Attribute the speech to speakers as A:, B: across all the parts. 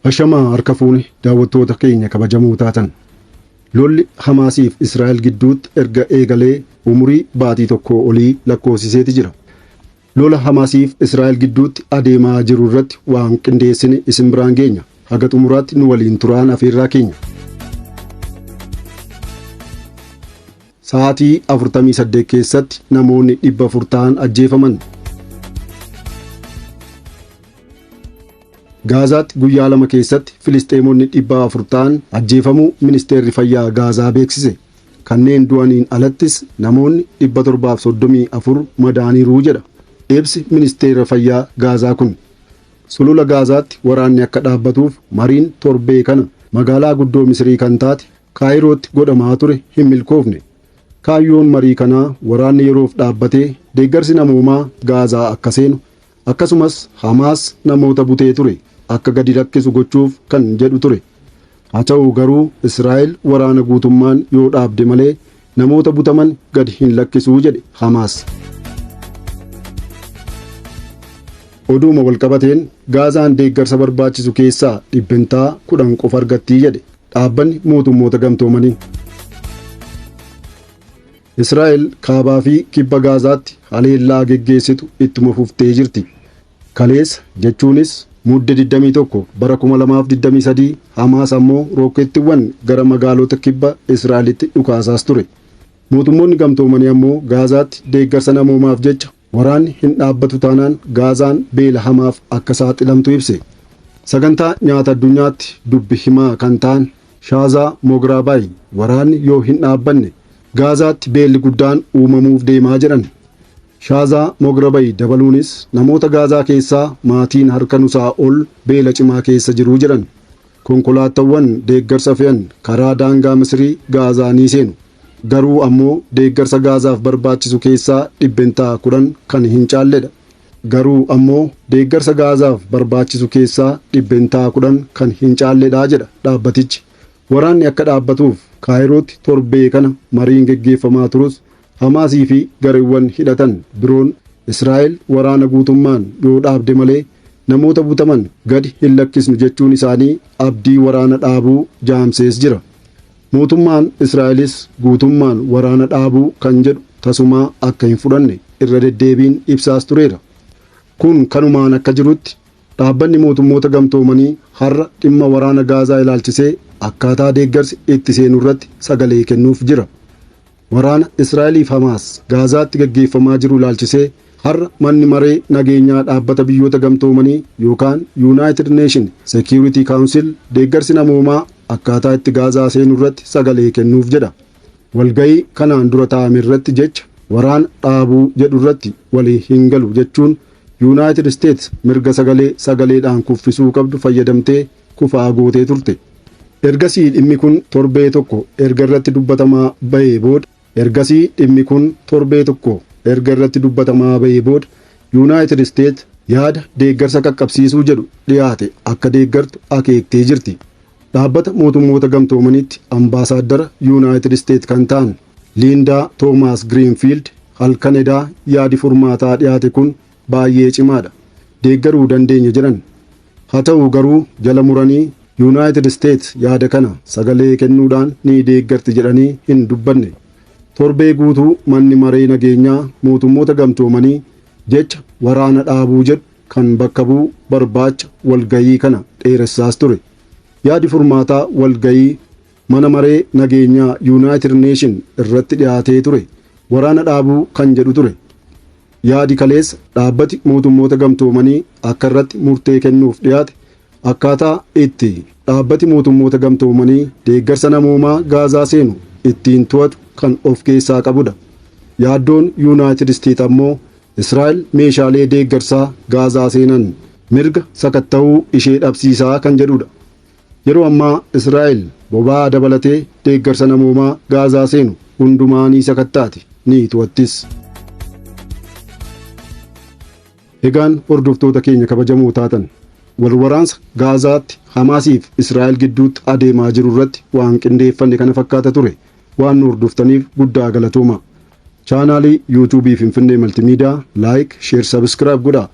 A: Ashamaa harka fuune daawwattoota keenya kabajamoo taatan. Lolli Hamaasiif Israa'el gidduutti erga eegalee umurii baatii tokkoo olii lakkoofsiseeti jira. Lola Hamaasiif Israa'el gidduutti adeemaa jiru irratti waan qindeessine isin biraan geenya. Haga xumuraatti nu waliin turaan afeerraa keenya. Sa'aatii 48 keessatti namoonni 400 ta'an ajjeefaman. Gaazaatti guyyaa lama keessatti Filisxeemonni 400 ta'an ajjeefamuu ministeerri fayyaa Gaazaa beeksise. Kanneen du'aniin alattis namoonni 734 madaa'aniiru jedha ibsi Ministeera Fayyaa Gaazaa kun. Sulula Gaazaatti waraanni akka dhaabbatuuf mariin torbee kana magaalaa guddoo Misirii kan taate Kaayirootti godhamaa ture hin milkoofne. Kaayyoon marii kanaa waraanni yeroof dhaabbatee deeggarsi namoomaa Gaazaa akka seenu Akkasumas Hamaas namoota butee ture akka gadi lakkisu gochuuf kan jedhu ture. Haa ta'u garuu Israa'el waraana guutummaan yoo dhaabde malee namoota butaman gad hin lakkisu jedhe Hamaas. Oduuma walqabateen Gaazaan deeggarsa barbaachisu keessaa dhibbentaa kudhan qofa argattii jedhe dhaabbanni mootummoota gamtoomanii. Israa'el Kaabaa fi Kibba Gaazaatti haleellaa geggeessitu ittuma fuftee jirti. Kaleessa jechuunis Mudde 21 bara 2023 Hamaas ammoo rookkeettiiwwan gara magaalota kibba Israa'elitti dhukaasaas ture. Mootummoonni Gamtoomanii ammoo Gaazaatti deeggarsa namoomaaf jecha Waraanni hin dhaabbatu taanaan Gaazaan beela hamaaf akka saaxilamtu ibse. Sagantaa Nyaata Addunyaatti dubbi himaa kan ta'an Shaazaa Mograabaayi waraanni yoo hin dhaabbanne Gaazaatti beelli guddaan uumamuuf deemaa jedhan. Shaazaa Mograbayi dabaluunis namoota Gaazaa keessaa maatiin harka nusaa ol beela cimaa keessa jiru jedhan. Konkolaattawwan deeggarsa fe'an karaa daangaa Misirii Gaazaa ni seenu. Garuu ammoo deeggarsa Gaazaaf barbaachisu keessaa dhibbentaa 10 kan hin caalledha. Garuu ammoo deeggarsa Gaazaaf barbaachisu keessaa dhibbentaa 10 kan hin caalledha jedha dhaabbatichi. Waraanni akka dhaabbatuuf Kaayirootti torbee kana mariin geggeeffamaa turus Hamaasii fi gareewwan hidhatan biroon Israa'el waraana guutummaan yoo dhaabde malee namoota butaman gadi hin lakkisnu jechuun isaanii abdii waraana dhaabuu jaamsees jira. Mootummaan Israa'elis guutummaan waraana dhaabuu kan jedhu tasumaa akka hin fudhanne irra deddeebiin ibsaas tureera. Kun kanumaan akka jirutti, Dhaabbanni Mootummoota Gamtoomanii har'a dhimma waraana Gaazaa ilaalchisee akkaataa deeggarsi itti seenurratti sagalee kennuuf jira. Waraana Israa'elii fi Hamaas Gaazaatti gaggeeffamaa jiru ilaalchisee har'a Manni Maree Nageenyaa Dhaabbata Biyyoota Gamtoomanii yookaan Yuunaayitid Neeshin Seekiyuuritii Kaawunsil deeggarsi namoomaa akkaataa itti Gaazaa seenu irratti sagalee kennuuf jedha. Walga'ii kanaan dura taa'ame irratti jecha waraana dhaabuu jedhu irratti walii hin galu jechuun Yuunaayitid Isteets mirga sagalee sagaleedhaan kuffisuu qabdu fayyadamtee kufaa gootee turte. Ergasii dhimmi kun torbee tokko erga irratti dubbatamaa ba'ee booda Ergasii dhimmi kun torbee tokko erga irratti dubbatamaa ba'ee booda Yuunaayitid Isteet yaada deeggarsa qaqqabsiisuu jedhu dhiyaate akka deeggartu akeektee jirti. Dhaabbata Mootummoota Gamtoomaniitti ambaasaaddara Yuunaayitid Isteet kan ta'an Liindaa Toomaas Giriinfiild halkan edaa yaadi furmaataa dhiyaate kun baay'ee cimaadha deeggaruu dandeenya jedhan. Haa ta'u garuu jala muranii Yunaayitid Isteet yaada kana sagalee kennuudhaan ni deeggarti jedhanii hin dubbanne. Torbee guutuu manni maree nageenyaa mootummoota gamtoomanii jecha waraana dhaabuu jedhu kan bakka bu'u barbaacha walga'ii kana dheeressaas ture. Yaadi furmaataa walga'ii mana maree nageenyaa Yunaayitid Neeshin irratti dhiyaatee ture waraana dhaabuu kan jedhu ture. Yaadi kaleessa Dhaabbati Mootummoota Gamtoomanii akka irratti murtee kennuuf dhiyaate akkaataa itti Dhaabbati Mootummoota Gamtoomanii deeggarsa namoomaa Gaazaa seenu ittiin to'atu kan of keessaa qabudha. Yaaddoon Yuunaayitid Isteet ammoo Israa'el meeshaalee deeggarsaa Gaazaa seenan mirga sakatta'uu ishee dhabsiisaa kan jedhudha. Yeroo ammaa Israa'el boba'aa dabalatee deeggarsa namoomaa Gaazaa seenu hundumaa ni sakattaati, ni to'attis. Egaan hordoftoota keenya kabajamoo taatan, wal waraansa Gaazaatti Hamaasiif Israa'el gidduutti adeemaa jiru irratti waan qindeeffanne kana fakkaata ture. Waan nu hordoftaniif guddaa galatoomaa. Chaanaalii YouTube Finfinnee Maltiimiidiyaa Like, Share, Subscribe godhaa.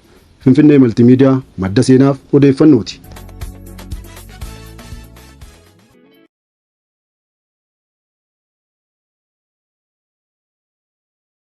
A: Finfinnee Maltiimiidiyaa madda seenaaf odeeffannooti.